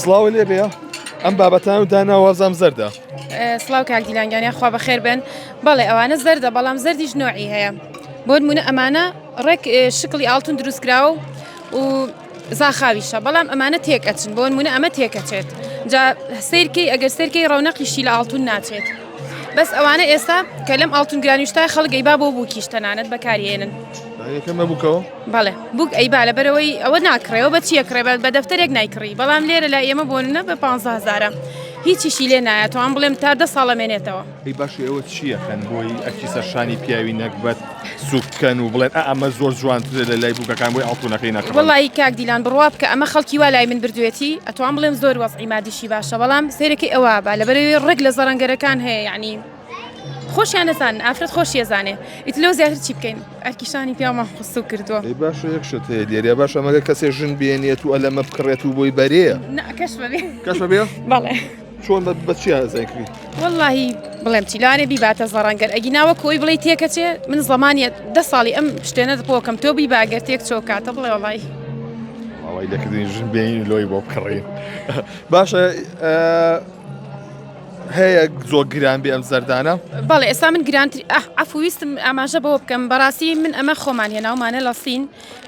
سڵاو لێ بێ ئەم بابەتان و دانا وازام زەردە. سڵاو کاک دیلانگانیان خوا بەخێر بن بەڵێ ئەوانە زەردە بەڵام زەردیش نوعی هەیە بۆ نمونە ئەمانە ڕێک شکڵی ئاڵتون دروستکراوە و زاخاویشە بەڵام ئەمانە تێک ئەچن بۆنمونە ئەمە تێکەچێت جا سیرکەی ئەگەر سەرکەی ڕەونەقیشی لە ئاڵتون ناچێت بەس ئەوانە ئێستا کە لەم ئاڵتون گرانیشتا خەڵگەی با بۆ بووکیش تەنانەت بەکارهێنن بەڵێ بووک ئەی بالە بەرەوەی ئەوە ناکڕێەوە بە چیە کڕێ بە دەفتەرێک نایکڕی بەڵام لێرە لە ئێمە بۆنە بە 15زارە هیچیشی لێ نایە تۆان بڵێم تا دە ساڵە مێنێتەوە ئەی باشە ئێوە چی یەکەن بۆی ئەرکی سەرشانی پیاوی نەگبەت سووک بکەن و بڵێن ئا ئەمە زۆر جوانترە لە لای بووکەکان بۆی ئاڵتوونەکەی نەکڕن؟ وەڵایی کاک دیلان بڕوا بکە ئەمە خەڵکی وا لای من بردوویەتی ئەتوان بڵێم زۆر وەزعی مادیشی باشە بەڵام سەیرەکەی ئەوا بە لەبەر ئەوی ڕێک لە زەڕەنگەرەکان هەیە یەعنی خۆشیان نەزانن ئافرەت خۆشی ئەزانێ ئیت لەو زیاتر چی بکەین ئەرکی شانی پیاومان خستوو کردووە ئەی باشە یەک شت هەیە لێرە باشە مەگەر کەسێ ژن بێنێت و ئەلەمە بکڕێت و بۆی بەرێ نا کەش بەبێ کەش بەبێ؟ بەڵێ. چۆن بە چیا زەنگ کری. وەڵاهی بڵێم چی لارێ بیباتە زەڕەن گەر ئەگینا وەکو ئەوی بڵێی تێکەچێ من زەمانە دە ساڵی ئەم شتێنە دپۆکەم تۆ بیبا گەر تێک چۆ کاتە بڵێ وەڵی ئەوەی لەکردنی ژن بێنین لۆی بۆ بکڕین باشە هەیە زۆ گران بێ ئەم زەردانە بەڵێ ئێستا من گرانتری ئەفویستم ئاماژە بەوە بکەم بەڕاستی من ئەمە خۆمان هێناومانە لە سین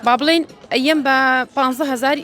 با بڵین ئەم بە 15هزاری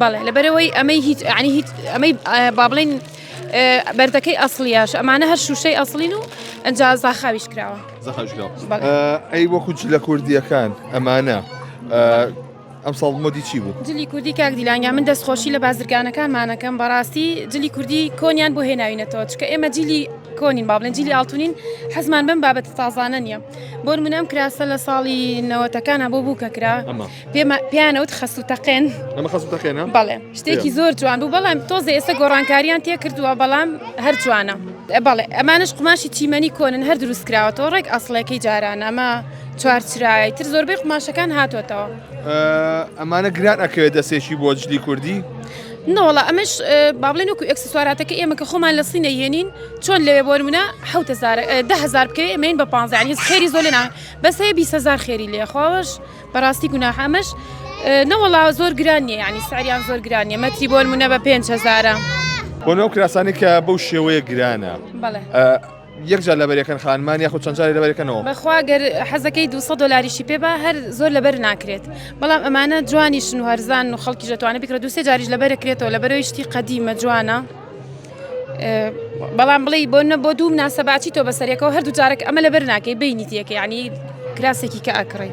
بەڵێ لەبەرەوەی ئەمەی هیچ عنی هیچ ئەمەی با بڵین بەردەکەی ئەسڵیاش ئەمانە هەر شوشەی ئەسڵین و ئەجا زاخاویش کراوە ئەی وەکو جلە کوردیەکان ئەمانە ئەم ساڵ مۆدی چی بوو جلی کوردی کاک دیلانیا من دەستخۆشی لە بازرگانەکانمانەکەم بەڕاستی جلی کوردی کۆنیان بۆ هێناوینەتەوە چکە ئێمە جلی کۆنین باڵێن جلی ئاڵتونین حەزمان بم بابەت تازانە نیە بۆر منم کراسە لە ساڵی نەوەتەکانە بۆ بوو کە کرا پێیانەوت خەسو تەقێن ئەمە خەسو تەقێنە بەڵێ شتێکی زۆر جوان بوو بەڵام تۆزە ئێستا گۆڕانکاریان تێ کردووە بەڵام هەر جوانە بەڵێ ئەمانش قوماشی چیمەنی کۆنن هەر دروست کراوەەوە ڕێک ئەسڵەکەی جاران ئەمە چوارچرای تر زۆربەی قوماشەکان هاتۆتەوە ئەمانە گران ئەکەوێت دەستێکی بۆ جلی کوردی نەوەڵە ئەمەش بابلێن وکو ئەکسسواراتەکە ئێمە کە خۆمان لە سینە یێنین چۆن لەوێ بۆ منە هزار بکەوێ ئەمەین بە پانزیان هیچ خێری زۆلێنان بەسەیە بیهزار خێری لێخواوەش بەڕاستی گوناحە ئەمەش نەوەڵا زۆر گران نیە یعنی سعریان زۆر گران نیە مەتری بۆن منە بە پێنج هزارە بۆ نەو کراسانی کە بەو شێوەیە گرانە یەکجار لەبەرەکەن خانمان یاخود چەندجاری لەبەرەکەنەوە بەخواگەر حەزەکەی 200 دلاریشی پێ بە هەر زۆر لەبەر ناکرێت بەڵام ئەمانە جوانیشن و هەرزان و خەڵکی دەتوانێت بکرە دوسێ جاریش لەبەرەکرێتەوە لەبەرەوەیشتی قەدیمە جوانە. بەڵام بڵێ بۆ نە بۆ دوو ناسە باچی تۆ بەسەرێکەوە هەردوو جارێک ئەمە لە بەر ناکەی بینی تێکە ینی کراسێکی کە ئەکڕی.